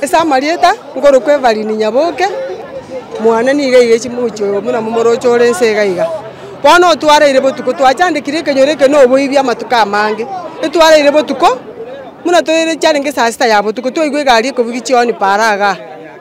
Ase amarieta, nkorokwa Evelyn Nyaboke, mwane nigo aigeiche mogochi oyo buna momoroche ore inse iga iga. Bono otwareire botuko, twachandekire ekenyoro eke na oboibi amatuko amange. Etwareire botuko, buna toire chiarenge saa sita ya botuko, twaigwa egari ekobugia chioni paaro igaa.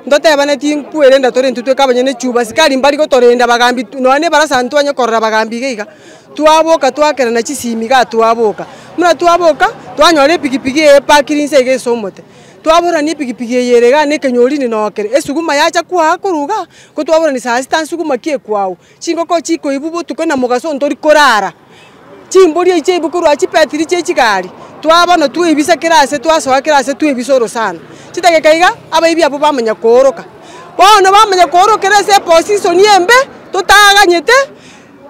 Ntotebane tinkwe renda tore intwe tweka abanyene echuba, asikari mbari gotorenda bagambi nonya na ebarasa ntitwanya korora bagambi iga iga. Twaboka twakerana chisimi igaa twaboka. Buna twaboka, twanyora epikipiki eye epakire inse iga ase omote. Twabororania epigipigi eye ere igaa na ekenyori inde noo kere. Esuguma yacha kwaa korwa igaa, ko twabororania saa sita nsuguma ki ekwawu. Chingoko chikoibwa botuko na mogaso ntori korara. Chimbori echi chaibwa korwa chibetiri chia echigari, twaa bono twaibisa kera ase twasoa kera ase twaibisa orosana. Chidageka iga, abaibi abwo bamanya kooroka. Bono bamanya koorokera ase eposisoni embe, totaganyete.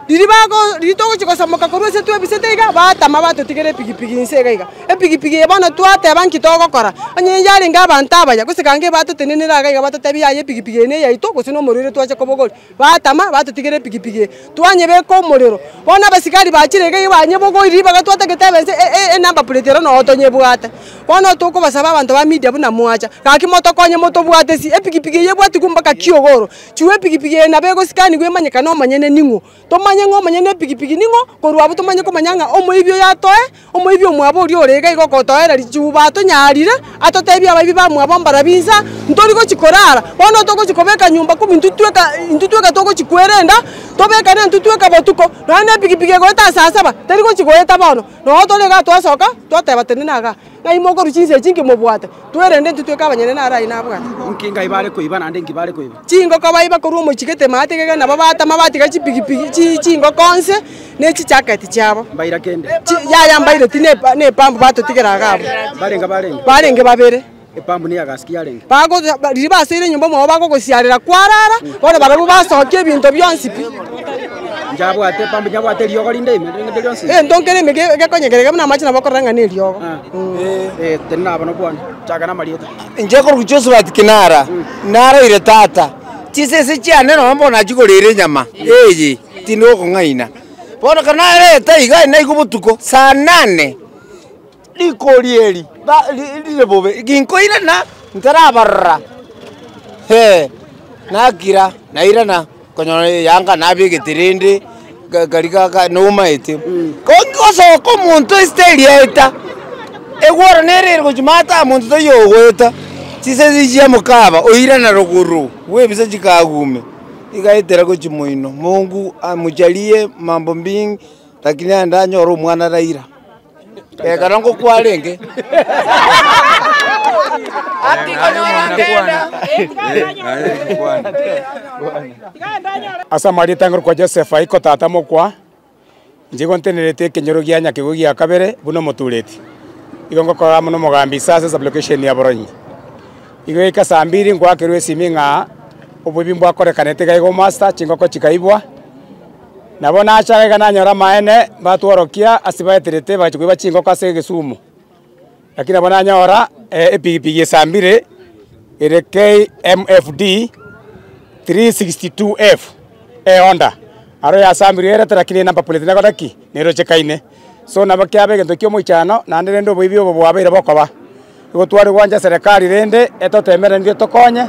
Riria bago, riria togochia gosamoka korwa ase twebisete iga, batama batotigera epigipigi inse iga iga. Epigipigi eye bono twateba nki togokora, onye yarenge abanto abaya, gose gaki batotenenera iga iga batotebia yaya epigipigi eye neyaito gose nomorero ere twache kobogoria. Batama batotigera epigipigi eye, twanyebeka omorero, bono abasigari bachire iga iga banyebogoria ribaga twatagete ebe nse e enumber plate ero noo tonyebwate. Bono tokobasaba abanto ba media buna mwacha, gaki motokonye motobwatesie, epigipigi eye ebwatigwe mpaka kiogoro. Chigwa epigipigi eye nabo egosikanigwa emanyekane omonyene ning'o, tomanye ng'a omonyene na epigipigi ning'o, korwa abwo tomanye komanya ng'a omoibi oyo atoe, omoibi omwabo oria ore iga iga ogotoereria. Chiuba atonyarire, atotebie abaibi ba mwabo mbarabwo inse, ntori gochi korara, bono togochi kobeka nyomba kumi intwe tweka intwe tweka togochi kwerenda, tobeka na intwe tweka botuko, nonya na epigipigi egoeta ase asaba, teri gochi goeta bono, nonya tore igaa twasoka, twateba tende nagaa. Ng'ai mokorwa chinsa echi inki mobwate? Tue rende intwe tweke abanyene naro aye nabwate. Inki ng'ai bare koiba naende inki bare koiba? Chingoko baiba korwa omochigete matigega nabo batama batiga chipigipigi chi chingoko nse ne chijaketi chiabo. Mbaira kende? Chi yaya mbaire ti ne ne pambu batotigera iga abwo. Mbarenga barenge? Barenge babere. Epambu ne ya gas ki yarenge? Bago ba riria basoire nyomba mwao bagogosiarera kwarara, bono barobwo basokia ebinto bionsi pi. Nchiabwate, bambi nchiabwate eriogo rinde ime, rinde rinde rionsi. Egento nkere ime ge- gekonyegerera buna amache nabo okorora ng'a na eriogo. Eh, teri nabo na bwango. Chaka na amarieta. Inche korwa Josphat Kinara, naraire tata, chisese chiane nonya mbono nachigorire enyama eye, tindi gokong'aina. Bono ekero nareta iga, naigwa botuko saa nane. Rikori eri rire bobe, ginkoirana ntarabarora, ee, nakira nairana konyora eyanga nabegete rende gari gaka nomaete. Ko nkigosoka omonto esita eria eta, egworo nere ere gochia maata omonto tari ogoeta, chisesi chiamoka aba oirana rogoro bw'ebisaa chikagume, igaetera gochia moino, mongu amocharie mambo mingi, lakini naende anyore omwana raira. Ekero ngokwarenge. Ase amaarieta ang'e rokwa Joseph Aiko tata mokwa, inche igo ntenereti ekenyoro gia nyakegwe gia kabere buna omotureti. Igo ngokorora amo nomogambi ise ase sublocation ya Boronyi. Igo yaika saa mbiri ngoakerwa esimi ng'a oboibi mbwakorekanete iga iga omaster, chingoko chikaibwa. Nabo nacha iga nanyore amaene mbatworokia ase baeterete bagachia koiba chingoko ase egesumu. Lakini nabo nanyora epigipigi esambire ere KMFD 362F, eHonda. Aro yasambirwe erete, lakini enamba plate nero naki? Nerochekaine. So nabo kiabe egento ki'omoichano naende rende oboibi obo bwabeire bokoba. Igo tware gwancha Serekari rende etotemerenerie tokonye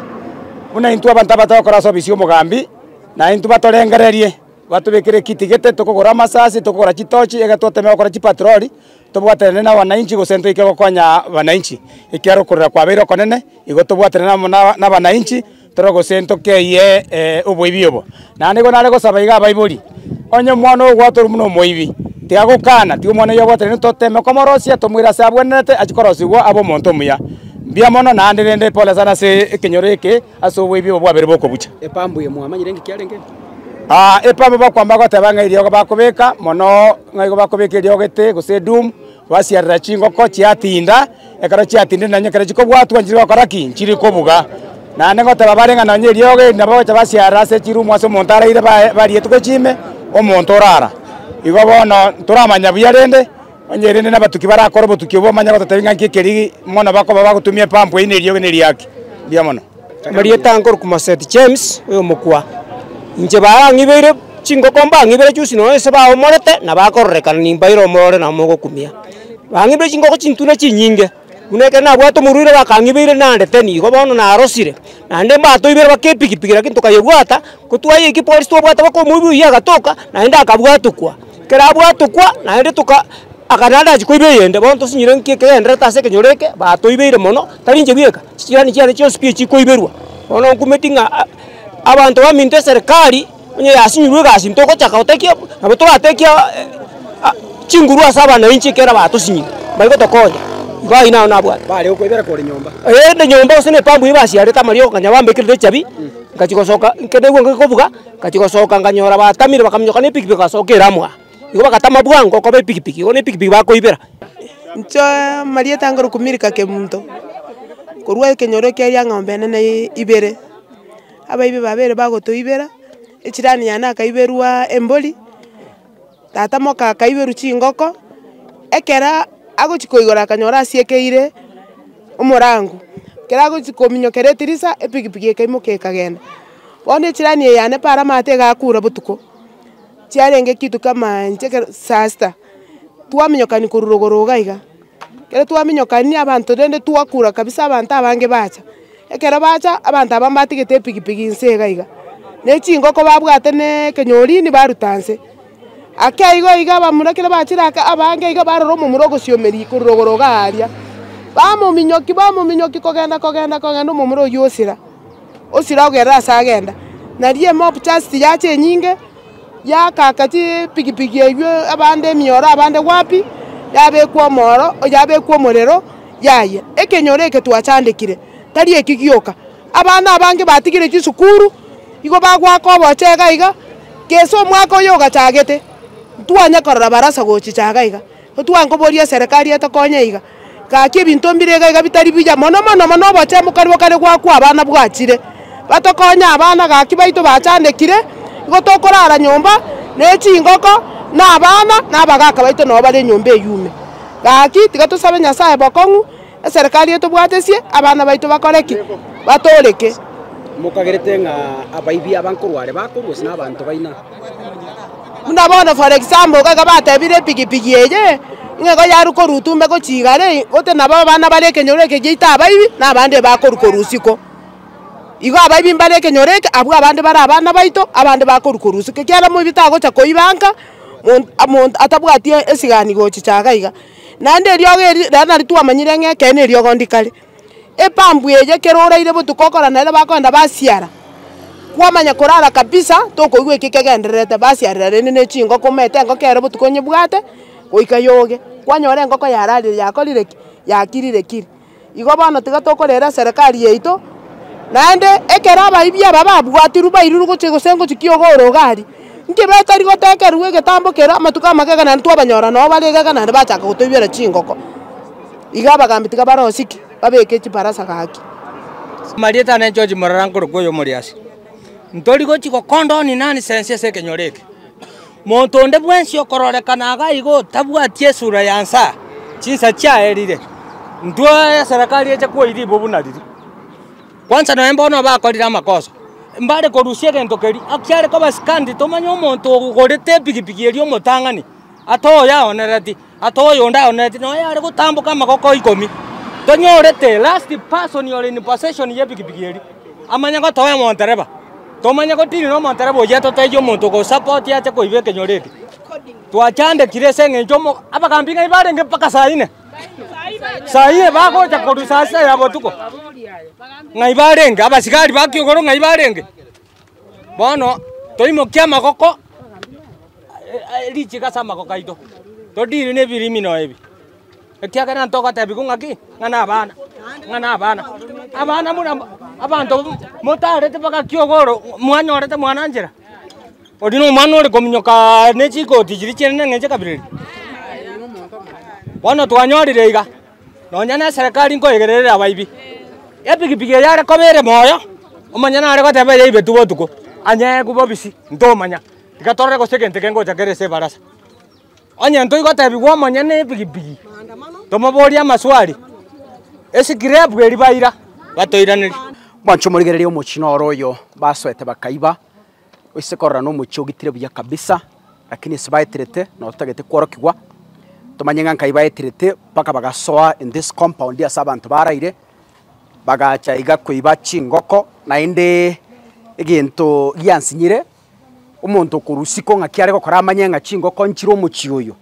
buna intwe abanto abatari gokora ase obisi y'omogambi, na intwe batorengererie, batobekere ekitigete, tokogora amasasi, tokogora chitochi ekero twatemire gokora chipatroli, tobwaterane na wananchi gose ntoike gokonya wananchi. Ekiagera okorera kwabeire okonene, igo tobwaterane amo na abananchi. Toro gose ntokeyie oboibi obo. Naende igo nare gosaba iga abaibori, onye omwana oyo ogwatwa ore buna omoibi, tigagokana, tiga omwana oyio abwate naende toteme komorosia, tomoire ase abwenerete achie korosigwa abe omonto omuya. Mbuya mono naende rende pole sana ase ekenyoro eke ase oboibi obo bwabeire bokobucha. Epambu eye mwamanyire engaki yarenge ime? Aa, epambu bakwama bagoteba ng'a eriogo bakobeka, mono ng'a igo bakobeka eriogo ete gose edoom. Basiarera chingoko chiatinda, ekero chiatindire nonye ekero chikobwatwa nchire gokora ki? Nchire kobuga. Naende ngoteba bare ng'a nonye eriogo eri nabo bagocha basiarera ase chirumu ase omonto araire bae barietwe gochia ime, omonto orara. Igo bono ntoramanya buya rende, onye rende nabatuki barakore obotuki obwo omanye gototebi ng'a nki ekeri mono bakoba bagotumia epampu eywo na eriogo neriaki. Mbuya mono. Amarieta nkorokwa Maset James, oyomokwa inche barang'ibeire chingoko mbang'ibeire chionsi nonya ase baomorete na bakororekana nimbaire omorore na mogokumia. Bang'ibeire chingoko chintune chinyinge buna ekero nabwate omorwaire bakang'ibeire nandete nigo bono narosire naende mbatoibeire mpaka epikipiki lakini tokayebwata. Gotwaya eki polisi twabwate mpaka omoibi oyio agatoka naende akabwatokwa. Ekero abwatokwa naende toka aka naende achia koiba eyende bono tosinyore nki ekegenderete ase ekenyoro eke batoibeire mono tarinche bweka chijirani chiane chionsi pi echi koiberwa. Bono nkumeti ng'a abanto baminto eserikari onye yasinyirwe egasi ntogochaka gotekia nabo toratekia chinguru ase abanainchi ekero batosinyire bari gotokonya. Igo ayio nabo nabwate. Bare okoibera kore nyomba. Eeh inde nyomba gose na epambu eye basiarete amariogo kanya bambekire echabi. Ngachia gosoka ekero naigwe ngaki kobuga, ngachia gosoka nganyora batamire bakaminyoka na epikipiki bagasoka eramu aa. Igo bagatama bwango okoba epikipiki, igo na epikipiki bakoibera. Nchoe marieta nkorokwa Milka Kemunto, korwa ekenyoro ekia Liang'ombe enene ibere, abaibi babere bagotoibera, echirani yane akaiberwa embori. Tata moka akaiberwa chingoko, ekero agochia koigora akanyora asiekeire omorango, ekero agochia kominyokera edirisa, epikipiki ekaimoka ekagenda. Bono ejirani eye yane paaro amato iga akura botuko, chiarenge ekitu kama inche ekero saa sita, twaminyokania korwa rogoro iga iga. Ekero twaminyokania abanto rende twakura kabisa abanto abange bacha, ekero bacha abanto aba mbatigete epikipiki nse iga iga, ne chingoko babwate na ekenyorini baruta nse. Ake igo iga abamura ekero bachire aka abange iga barora omomura ogosiomeria korwa rogoro igaa aria, bamominyoki bamominyoki kogenda kogenda kogenda omomura oyio osira, osira ogerere ase agenda. Nario emob just yacha enyinge. yagaaka chipigipigi eyio, abande emioro, abande wapi, yabekwa omoro, yabekwa omorero, yayia. Ekenyoro eke twachandekire, tari eki gioka, abana abange batigire chisukuru, igo bagoaka obochee iga iga, gese omwaka oyo ogachagete, ntwanye korora barasa gochichaga iga. Otugare nkoboria eserekari etokonye iga, gaki ebinto mbire iga iga bitari buya mono mono mono obochemu karia kare gwakwa abana bwachire, batokonye abana gaki baito bachandekire, igo tokorara nyomba ne chingoko na abana na abagaka baito nabo bare nyomba eyume. Gaki tiga tosabe Nyasaye bokong'u. Eserekari etobwatesie, abana baito bakore ki? Batooreke. Mokagerete ng'a abaibi aba nkorware bakorwa ase nabaanto baino? Buna bono for example iga iga batebire epigipigi eye ng'a igo yarwa korwa Utumbe gochia igare eye, gotee nabo abana bare ekenyoro eke giaito abaibi, na abande bakorwa korwa isiko. Igo abaibi mbare ekenyoro eke, abwo abande bare abana baito, abande bakorwa korwa isiko. Ekiagera moibi tagocha koiba nka, mon monto atabwati esigani gochichaga iga. Naende eriogo eri rero nari twamanyire ng'a ekeene eriogo ndikare. Epampu eye kero oraire botuko okora nere bakoenda basiara, kwamanya korara kabisa tokoigwa eki kegendererete, basiarera rende na echingoko omanyete engoko ero botuko onyebwate goika yoge, kwanyora engoko yararire yakorire ki? Yakirire kiri. Igo bono tiga tokorera eserekari yaito, naende ekero abaibia aba babwatirwe bairwe gochia egesengo chikia ogooro Gari, inki betari gotekerwa egetambo keria amatuko amagega naende twabanyora nao bare egega naende bachaka gotoibera chingoko. Iga abagaambi tiga barosiki, babeke chibarasa gaki. Marieta na George morara nkorokwa oyo omoriasi, Ntori gochia gokonda oninani sense ase ekenyoro eke. Monto onde bwensi okororekana iga iga otabwati esura ya nsa, chinsa chiaerire, intwe eserekari eche kwoiribu buna riri. Kwansa nonya bono bakorire amakosa, mbare korusia egento keria, ak chiare koba sikandi, tomanye omonto ogorete epigipigi eria omotang'ani, atoyaonereti. Ata oyo onde aoneti noyo are gotamboka amagoko ikomi. Tonyorete last person ore in possession ye pikipiki eri. Amanye gotoa omontereba. Tomanye gotini na omontereba oye totaiye omonto ogo support ache koiba ekenyoro eke. Twachandekire ase engencho omo abagambi ng'ai barenge mpaka saa ine? Saa ine bagocha korwa saa sita ya botuko. Ng'ai barenge? Abasigari ba kiugoro ng'ai barenge? Bono toimokie amagoko aye richiiko ase amagoko aito, todiiri nebirimino ebi, ekiagera ntogotebiwa ng'a ki? Ng'a nabana, ng'a nabana. Abana buna abanto motareti mpaka kiogoro mwanyorete mwana nchera? Oria nomwana ore kominyokaa ne chikoti chiria chiane na eng'encho ekabira eria. Bono twanyorire iga. Nonya neserekari nkoegererere abaibi. Epigipigi eye are koba ere moyo, omonyene nare goteba eyaibetwe botuko, anyeegwe bobisi, ntomanya, tiga torore gose egento eke ngocha kere ase ebarasa. Onye ntoigotebigwa omonyene epigipigi, tomoborie amaswali, esikirepu eria baira batoiraneria. Mwanche omorigererie omochie noro oyo basoete bakaiba. Oise korora nomochie ogitire buya kabisa, lakini ase baeterete nabo totagete kworokigwa, tomanye ng'a nkai baeterete mpaka bagasoa in this compound ase abanto baraire, bagacha iga koiba chingoko, naende egento giansinyire, omonto okorwa isiko ng'aki are gokora amanye ng'a chingoko nchire omochie oyo,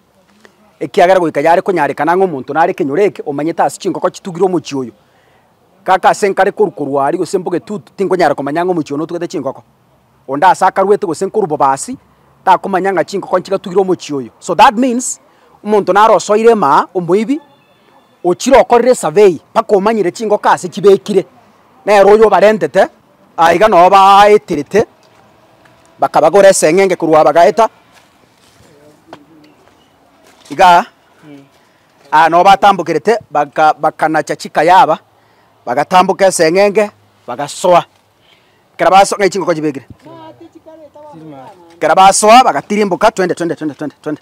ekiagera goika yare konyarekana ng'a omonto nare kenyoro eke omanyete ase chingoko chitugire omochie oyo. Kaka ase nkare korwa korwa aria gose mbogetutu, tinkonyara komanya ng'a omochie one otugete chinkoko. Onde aase akarwete gose nkorwa bobasi, takomanya ng'a chinkoko nchigatugire omochie oyo. So that means, omonto naro osoire emaa, omoibi, ochire okorire esurvey mpaka omanyire chinkoko aase chibekire, nere oyo obarentete, aye iga noo baaeterete, bakabagora eseng'enge korwa abagaeta, igaa. Aa nobo atambokerete, bakanacha chika yaba, bagatamboka eseng'enge, bagasoa. Ekero basoa, ng'ai chingoko chibekire? Ekero basoa bagatirimboka, twende twende twende twende twende.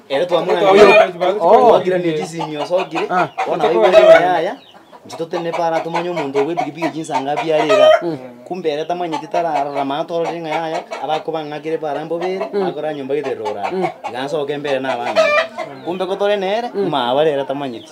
Ere twamoranirie ogokirania chisimio osokire, bono aye bwere oyo yaya, inche totenene paro atomanye omonto oo bw'epikipiki echio inse anga abiare iga. Kumbe ere tamanyeti tararora mana tororire ng'a yaya, abakoba ang'akire paro aa mbobere, akore aa nyomba geterero orara. Tiga nsoke mbere nabang'ina. Kumbe kotore nere, mama aa bare ere tamanyeti.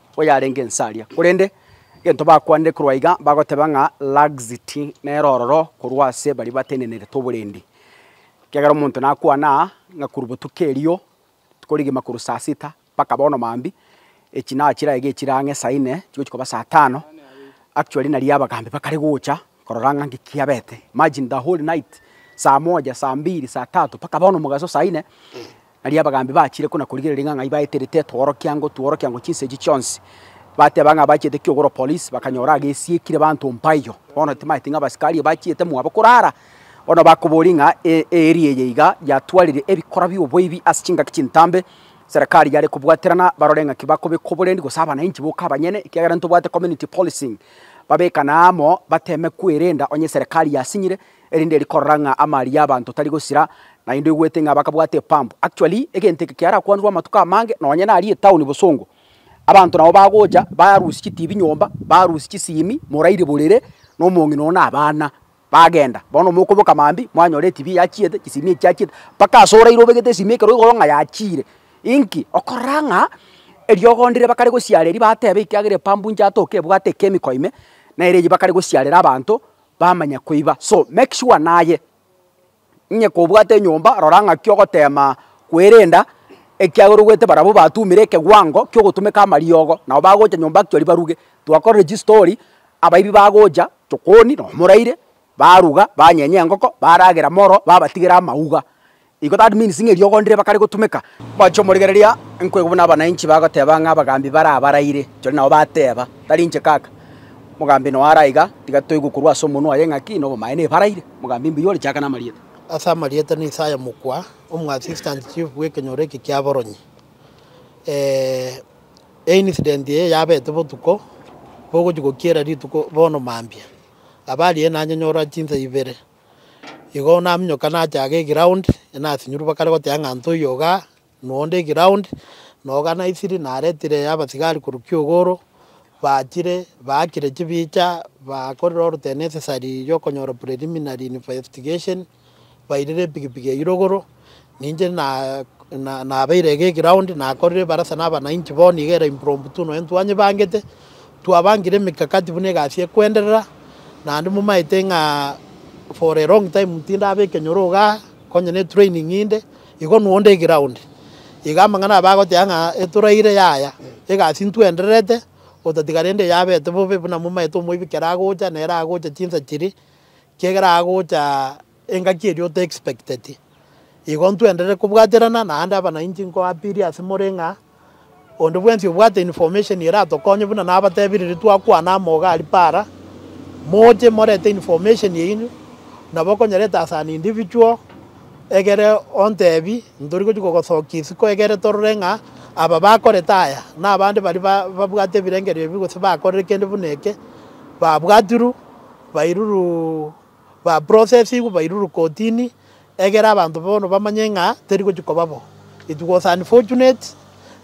oyarenge inse aria, korende egento bakwanire korwa iga bagoteba ng'a laxity nere ororo korwa ase baria batenenerete oborendi. Ekiagera omonto nakwana aa ng'a korwa botuko erio tikorigima korwa saa sita mpaka bono mambia, echinaha chiria iga echire ang'e saa inne chigochia koba saa tano, actually nario abagambi bakare gocha Korora ng'a nki kiabete. Imagine the whole night, saa moja, saa mbiri, saa tatu, mpaka bono omogaso saa ine. Nari abagambi bachire ko na korigereria ng'a ng'ai baeterete etworokia ngotworokia ngo chinsa echi chionsi. Bateba ng'a bachiete kiogoro police, bakanyora agesiekire banto mpaiyo. Bono timaeti ng'a abasikari bachiete mwabo korara, bono bakoboria ng'a e area eye iga yatwarire ebikora bi'oboibi ase chingaki chintambe, serekari yare kobwaterana barore ng'aki bakobeka oborendi gose abanainchi boka abanyene, ekiagera ntobwate community policing. Babekane amo, bateme kwerenda onye eserekari yasinyire, erinde eri korora ng'a amari y'abanto tari gosira, naende oigwete ng'a bakabwate epampu. Actually, egento eke kiarakwanirwe amatuko amange nonye naria etown bosongo. Abanto nabo bagocha barusia chitibi nyomba, barusia chisimi, morairie borere, na omong'ina oo na abana. Bagenda. Bono mokoboka mambia, mwanyora etibi yachiete, chisimi echi chiachiete, mpaka ase oraire obegete esimi ekero oigoro ng'a yachiire. Inki? Okorora ng'a eriogo ndire bakare gosiara eria bateba ekiagera epambu inche atoke ebwate echemical ime, nere eyio bakare gosiarera abanto, bamanya koiba. So, make sure naye. Inye kobwate enyomba, rora ng'aki ogoteema kwerenda, ekiagera ogoete barabwo batumire ekegwango ki'ogotumeka amariogo, nabo bagocha nyomba nkiori baruge. Twakorire chistori, abaibi bagocha, chokoni na omoraire, baruga, banyenya engoko, baragera moro, babatigera amauga. Igo that means ng'a eriogo ndire bakare gotumeka. Bachia omorigereria, nkoigwa buna abananchi bagoteba ng'a abagambi barabaraire, ekiagera nabo bateba, tari inche kaka. Mogambi noyo are aiga, tiga toigwe korwa ase omonwa oye ng'aki nobomaene ebaraire. Mogambi mbuya ore, chaka namarieta. Ase amarieta na Isaya mokwa, omoassistant chief bw'ekenyoro eke ki'aboronyi. Eincident eye yabete botuko bogochia gokiera rituko bono mambia. Abare ere nanyonyora chinsa ibere. Igo naminyoka nacha iga eground, nasinyorwa bakare goteba ng'a ntoiyo igaa. Noonde eground, na oganaiserie naretire abasigari korwa Kiogoro, bachire baakire chibicha, bakorire ore the necessary yokonyora preliminary investigation, bairire epikipiki eyio rogoro, ninche na na nabeire iga eground nakorire ebarasa na abananchi bono iga ere impromptu nonya ntwanyebangete, twabangire emekakati buna egasi ekoenderera, naende momaete ng'a for a long time tindaba ekenyoro igaa, onye ne training inde. Igo nonde eground, iga amang'ana aba agoteba ng'a eturaire yaya, egasi ntwendererete, otatiga rende eyabete bobe buna momaete omoibi kere agocha nere agocha chinsa chiria, kiagera agocha engaki eria ote expecteti. Igo ntwenderere kobwaterana naende abananchi nkoapiria ase more ng'a. Onde bwensi obwate information eratokonye buna nabatebire riria twakwana amo iga aria para, moche morete information yaino nabo okonyereta as an individual egere ontebi ntori gochia kogosokia isiko egere torore ng'a aba bakorete aya na abande baria ba babwate ebirengerio ebi gose bakorire kende buna eke babwatirwe bairurwe. ba processigwe bairurwe kotini egere abanto bono bamanye ng'a teri gochia koba bo. It was unfortunate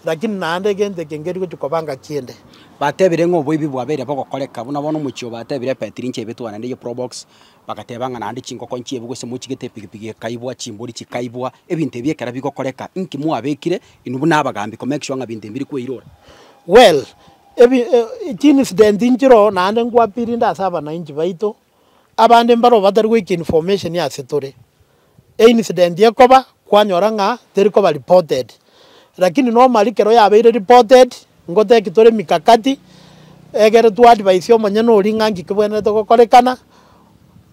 lakini naende egento eke nkeri gochia koba ngaki ende. Batebire ng'a oboibi bwabeire bogokoreka buna bono omochie oo batebire ebetiri inche ebetwe naende ye probox bagateba ng'a naende chinkoko inche ebu gose mochigete epigipigi ekaibwa chimbori chikaibwa ebinto ebi ekero bigokoreka inki mwabekire inwe buna abagambi ko make sure ng'a binto ebi mbiri koirora. Well, ebi, chi incident nchire oo naende nkwapirinde ase abanainchi baito Abande mbaro batari goika information ase tore. E incident ekoba kwanyora ng'a teri koba reported. Lakini normally kero yabeire reported, ngotebie tore emikakati egere twa advise omonyene oria ng'a nki kebwenerete gokorekana,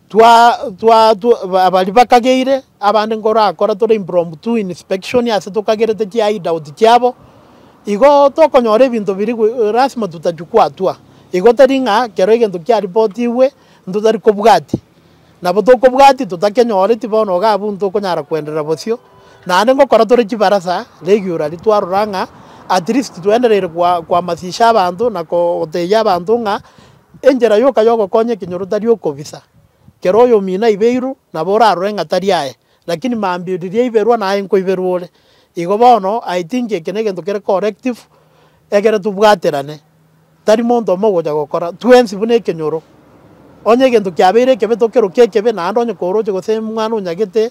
twa twa twa abari bakageire. Abande nkorakora tore impromptu inspection ase tokagerete ki hide out kiabo, igo tokonyora ebinto biri lasima tutachukua hatua. Igo tari ng'a kero egento kiaripotigwe ntotari kobwati. Nabo tokobwati totakenyoreti bono iga abwo ntokonyara koenderera bosio. Naende ngokora tore chibarasa regularly twarora ng'a at least twaendereire koamasisha abanto na gotebia abanto ng'a enchera yoka yogokonya ekenyoro tari okobisa. Kera oyomino aibeirwe, nabo orarore ng'a tari aye, lakini mambia riria aiberwa naye nkoiberwa ore. Igo bono I think eke negento kere collective ekere tobwaterane, tari monto omo ogocha gokora, twensi buna ekenyoro. Onye egento kiabeire ekebe tokerokia ekebe, naende onye koroche gose mwana onyagete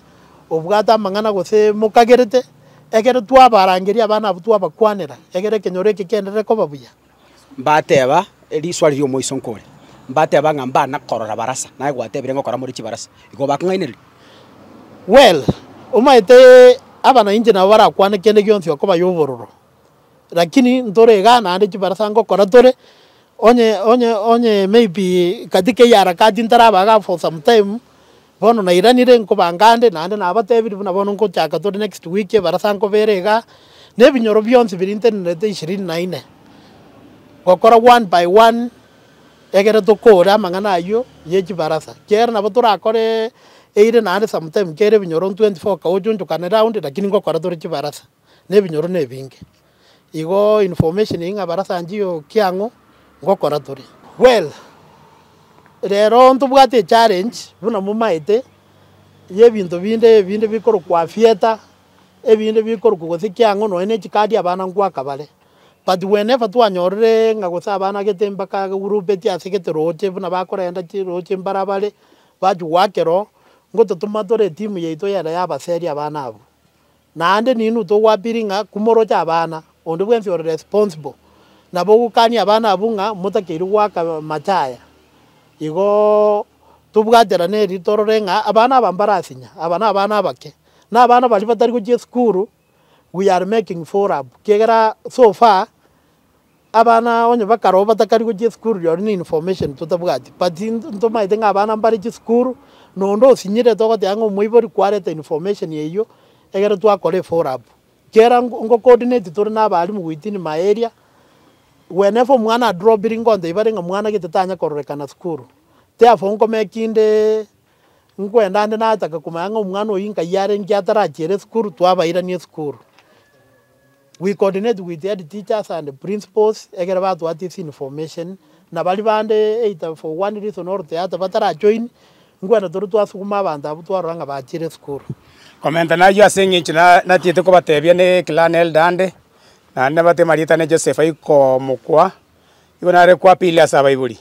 obwate amang'ana gose mokagerete, ekero twabarangeria abana abwo twabakwanera, ekero ekenyoro eke kienderere koba buya. Mbateba, Eriswa riria omoiso nkore. Mbateba ng'a mbana korora barasa, naye gwatebire ng'a okora more chibarasa. Igo bakong'aineria. Well, omaete abana inche nabo barakwane kende gionsi okoba yobororo, lakini ntore igaa naende chibarasa ngokora tore, onye onye onye maybe katika hii harakati ntaraba igaa for some time, Bono nairanire nkobanga ande, naende nabatebirie buna bono ngochaka tore next week ebarasa nkobera iga, na ebinyoro bionsi birintenerete ishirini na ine, gokora one by one egere tokore amang'ana ayio ye chibarasa. Kiagera nabo torakore eire naende sometime kere ebinyoro 24 ka ochunchukane round lakini ngokora tore chibarasa. na ebinyoro nebinge. Igo information eyio ng'abarasanchie oo kiang'o ngokora tore. Well, rero ntobwate echallenge buna momaete ya ebinto binde ebinde bikorokwa theatre, ebinde bikorokwa gose kiang'o nonya na echikadi abana ngoaka bare. But whenever twanyorire ng'a gose abana gete mpaka bagroupeti ase gete roche buna bakorenda chiroche mbara bare, bachi goakera oo, ngototoma tore etimu yaito yera ya abaseri abana abwo. Naende ninwe togwabiri ng'a kumoroche abana, onde bwensi ore responsible, nabo ogokania abana abwo ng'a motakeirwe goaka amache aya. Igo tobwaterane erio torore ng'a abana aba mbarasinya, aba nabana abake, nabana baria batari gochia esukuru, we are making furab, kiagera so far Abana onye bakaroo batakari gochia esukuru rirorio ne information totabwati but ntomaete ng'a abana mbare chisukuru na onde osinyirete ogoteba ng'a omoibori kwarete information eyio egere twakora efollow up. Kera nko coordinate tore na abalimu within my area whenever omwana adroppiri nkonta ibare ng'a mwana gete tanya kororekana sukuru therefore nko make inde. Nkwenda ande natake komanya ng'a omwana oyio nkai arenge atarachere esukuru twabairania esukuru. We coordinate with head teachers and principals ekero batwati ase information na baria bande either for one reason or the other batara join nkwenda tore twasukuma abanto abwo twarora ng'a bachire esukuru. Komenta nayio ase eng'encho na natiete kobatebia ne clan elder ande, naende nabatebia amarieta ane Joseph aye komokwa. Igo nare kwapirire ase abaibori.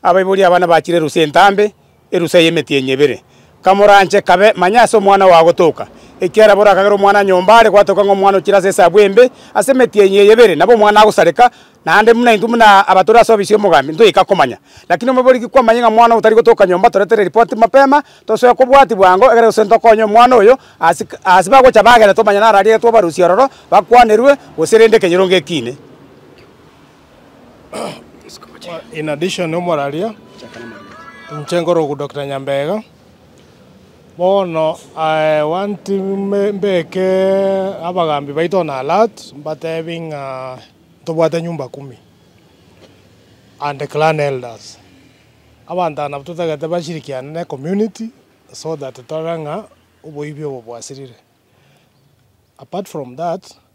Abaibori aba nabachire erusa entambe, erusa y'emetienyi ebere. Kamoranche kabe manye ase omwana ogo agotoka. Ekiagera boria akagera omwana nyomba are gwatoka ng'a omwana ochire ase esabu embe ase emetienyi eye ebere, nabo omwana agosareka, naende buna intwe buna abatore ase ofisi y'omogambi ntoika komanya. Lakini omoibori gikwamanye ng'a omwana oyo tari gotoka nyomba, toretere ripoti mapema, tosoe kobwati bwango, ekero gose ntokonye omwana oyo ase ase bagocha bagenda tomanye naro arigetwe obarusie ororo, bakwanerwe, gose rende ekenyoro ngekiine. In addition omoraria inche nkore oku Doctor Nyambega bono I want me mbeke abagambi baito on alert mbatebie ng'a ntobwate nyumba kumi and the clan elders. Abanto aba nabo totagete bashirikiane ne community so that torore ng'a oboibi obo bwasirire. Apart from that.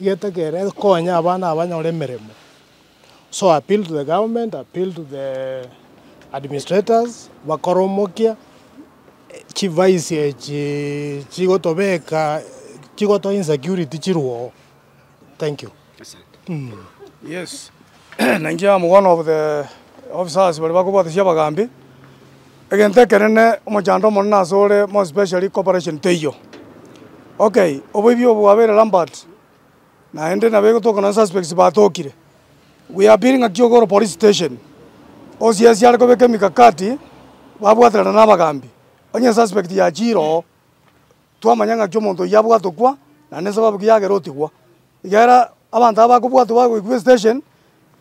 Getegeere konya abana aba banyore emeremo so I appeal to the government, I appeal to the administrators bakore omokia chivaisi echi chigotobeka chigotoa insecurity chirwe oo. Thank you. Yes, na inche am one of the officers baria bakobwatisia abagambi. Egento ekenene omochando omonene ase ore more especially cooperation teiyo. Okay oboibi obo bwabeire rampart naende nabo egotoka nonye suspects batokire we are appealing ng'aki oke ore police station osiasie are kobeka emikakati babwaterana na abagambi onye suspect yachiire oo. Twamanya ng'aki omonto oyio abwatokwa na nesababu ki yagera otigwa. Igera abanto aba bakobwatwa bagoikwa esitesheni,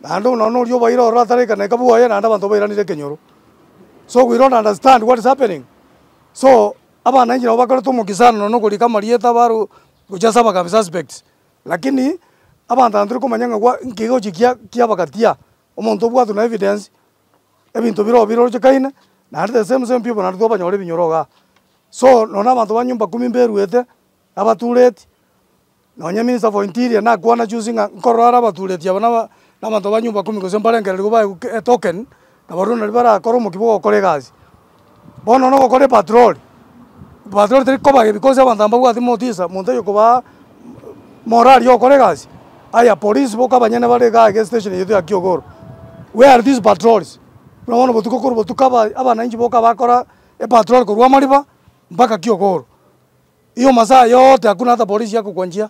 naende nonya noria obaire ororo atare ekenaika bwoye naende abanto bairanire ekenyoro. So we don't understand what is happening. So abananchi nabo bakorete omokia sana nonya na okorika amarieta baro gocha ase abagabi suspects. Lakini abanto aba tore komanya ng'a gwa nki gocha ekiya kiabagatia. Omonto obwatwe na evidence, ebinto bire oo birorochekaine, naende the same same people naende twabanyora ebinyoro igaa. So nonya abanto ba nyumba kumi mberuete, abatureti, nonya minister for interior nakwana juzi ng'a nkorora are abatureti aba naba nabanto ba nyumba kumi gose mbarengereria baegwe etoken, nabaria nario barakore omokia bw'ogokora egasi. Bono nonya ogokora epatroli, epatroli teri koba ebi bonsi abanto mbabwati motiisa, monto oyo kobaa morari y'ogokora egasi, aya polisi boka abanyene bare igaa iga esteshen yaito ya kiogoro, where are these patrols? Buna bono botuko korwa botuko aba abananchi boka bakora epatrol korwa amariba mpaka kiogoro, iyo masaa yote hakuna hata polisi yakokwanchia.